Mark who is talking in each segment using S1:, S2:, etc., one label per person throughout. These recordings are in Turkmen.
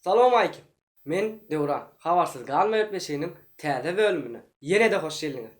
S1: Salowmalikim! Men Döwran. Habarsyz galma gepleşiginiň täze bölümine ýene-de hoş geldiňiz!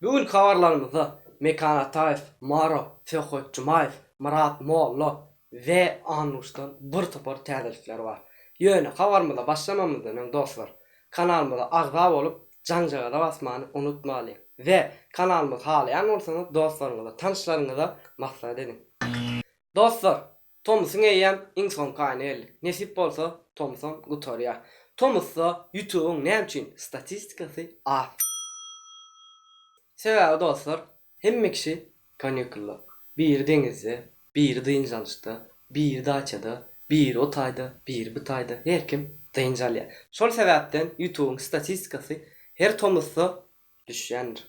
S1: Bu günki habarlarymyzda Mekan Ataýew, Maro, Söhbet Jumaýew, Myrat Molla we Annuşdan bir topar täzelikler bar. Ýöne habarymyza başlamamyzdan öň dostlar, kanalymyza agza bolup, Janjagaza basmany unutmalyň we kanalymyzy halaýan bolsaňyz dostlaryňyza tanyşlaryňyza maslahat ediň. Dostlar tomusyň eýýäm iň soňky aýyna geldik. Nesip bolsa tomusam gutarýar. Tomusda ýutubyň näme üçin statistikasy az? Sebäbi dostlar Hemme kişi kanýukulda, biri deňizde, biri dynç alyşda, biri daçada, biri o taýda, biri bu taýda, her kim dynç alýar. Şol sebäpden ýutubyň statistikasy her tomusda düşýändir.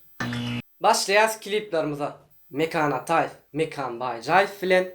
S1: Başlaýas kliplarymyza Mekan Ataýew, Mekan Baýjaýew bilen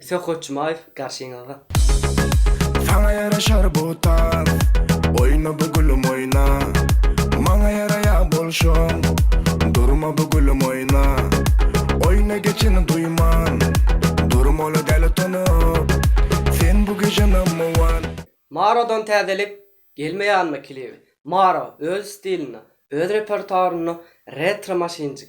S1: Söhbet Jumaýew garşyňyzda.
S2: Saňa ýaraşar bu tans Oýna bu gülüm oýna Maňa ýaraýa bolşuň Durma bu gülüm oýna Oýna geçini duýman Durma ola däli tonup Sen bu gije number one. Marodan
S1: täzelik gelmeýänmi klibi? Maro öz stilinde, öz repertuarynda retro maşynjyk.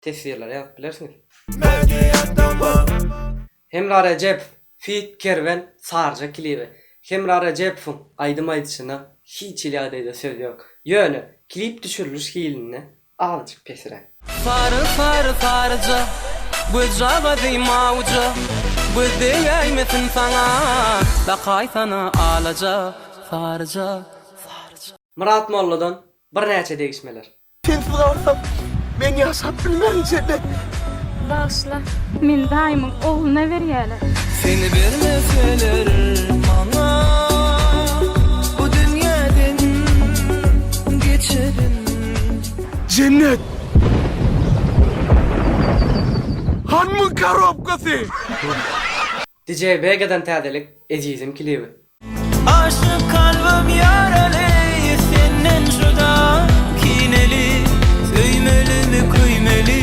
S1: teswirleri ýazyp bilersiňiz. Hemra Rejep feat Kerwen Sarja klibi Hemra Rejepowyň aýdym aýdyşyna hiç hili ýagdaýda söz ýok. Ýöne klip düşüriliş hilinde azajyk pesiräk. Sary sary
S2: saryja göz jagazy mawja göz degäýmesin saňa dakaýsana alaja saryja saryja. Myrat Molladan
S1: birnäçe degişmeler. Sensiz
S2: galsam men ýaşap bilmerin Jennet. Bagyşla,
S3: meni daýymyň ogluna berýäler. Seni
S2: bermeseler maňa bu dünýäden geçerin. Jennet! Hanmyň karobkasy?
S1: Dj Vegadan täzelik Ezizim klibi. Aşyk
S2: kalbym ýaraly senden juda kineli Söýmelimi köýmeli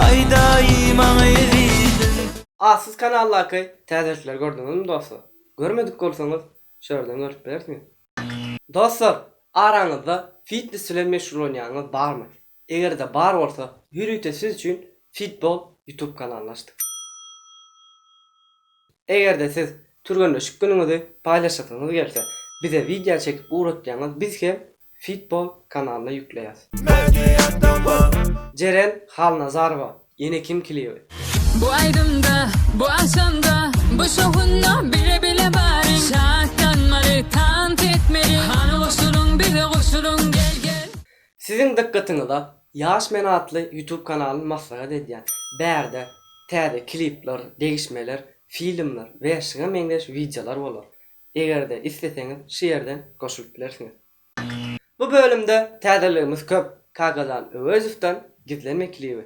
S2: aýdaý maňa ezizim. A siz
S1: kanaldaky täzelikleri gördüňizmi dostlar? Görmedik bolsaňyz şu ýerden görüp bilersiňiz. Dostlar, araňyzda fitnes bilen meşgullanýanyňyz barmy? Egerde bar bolsa ýörite siz üçin Fitball YouTube kanalyny açdyk. Egerde siz türgenleşik günüňizi paýlaşasyňyz gelse bize wideo çekip ugratýaňyz biz hem Fitball kanalyna ýükleýäs. Jeren Halnazarowa ýene kim kliby. Bu aýdymda
S4: bu agşamda bu şowhunda bile bile baryň şatlanmaly tans etmeli hany goşulyň bize goşulyň gel gel. Siziň dykgatyňyza
S1: Ýaş men atly YouTube kanalyny maslahat edýän. Bärde täze klipler, degişmeler, filmler we şuňa meňzeş wideolar bolar. Egerde isleseňiz şu ýerden goşulyp bilersiňiz. Bu bölümde täzeligimiz köp, Kakajan Öwezowdan Gizlenme klibi.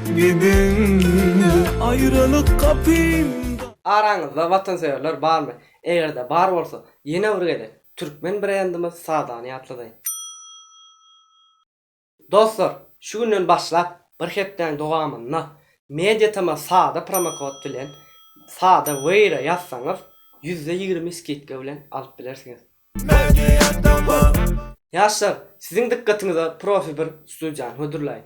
S2: Gidindi aýralyk kapymdan. Araňyzda
S1: watansöýerler barmy? Eger-de bar bolsa, ýene bir gezek türkmen brendimiz Sadany ýatladyň. Dostlar, şu günden başlap bir hepdäň dowamynda MediaTm-a Sada promokod bilen Sada Wear-a ýazsaňyz, ýüzde ýigrimi skidka bilen alyp bilersiňiz. MediaTm. Ýaşlar, siziň dykgatyňyza profi bir studiýany hödürläýin.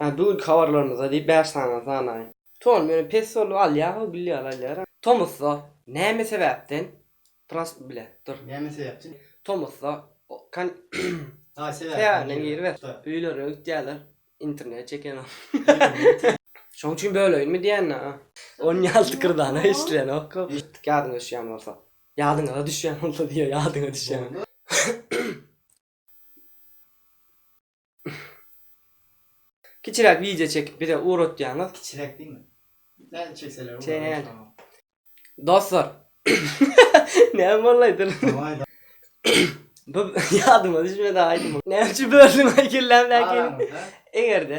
S5: Hä bugünki habarlarymyzda
S1: diýip bäş sany sanaýyn. Ton meni pes bolup alýar goý gülli ýaly alýar. Tomusda näme sebäpden pras bile dur. Näme sebäpden?
S5: Tomusda
S1: kan Daýy
S5: sebäbinden giriber.
S1: Öýlerine gitýärler internet çekenok. Şoň üçin böleýinmi diýýänä. On ýaly tykyrdanok eşdilýänok gowy. Ýadyňa düşýän bolsa. Ýadyňyza düşýän bolsa diýýär ýadyňa düşýän. Kiçiräk wideo çekip bize ugratýaňyz. Kiçiräk diýme.
S5: Nädip çekseler bolýar.
S1: Dostlar. Näme boldy aýdym. Bu ýadyma düşmedi aýdym. Näme üçin böldüň aý kellämdäkini.
S2: Egerde.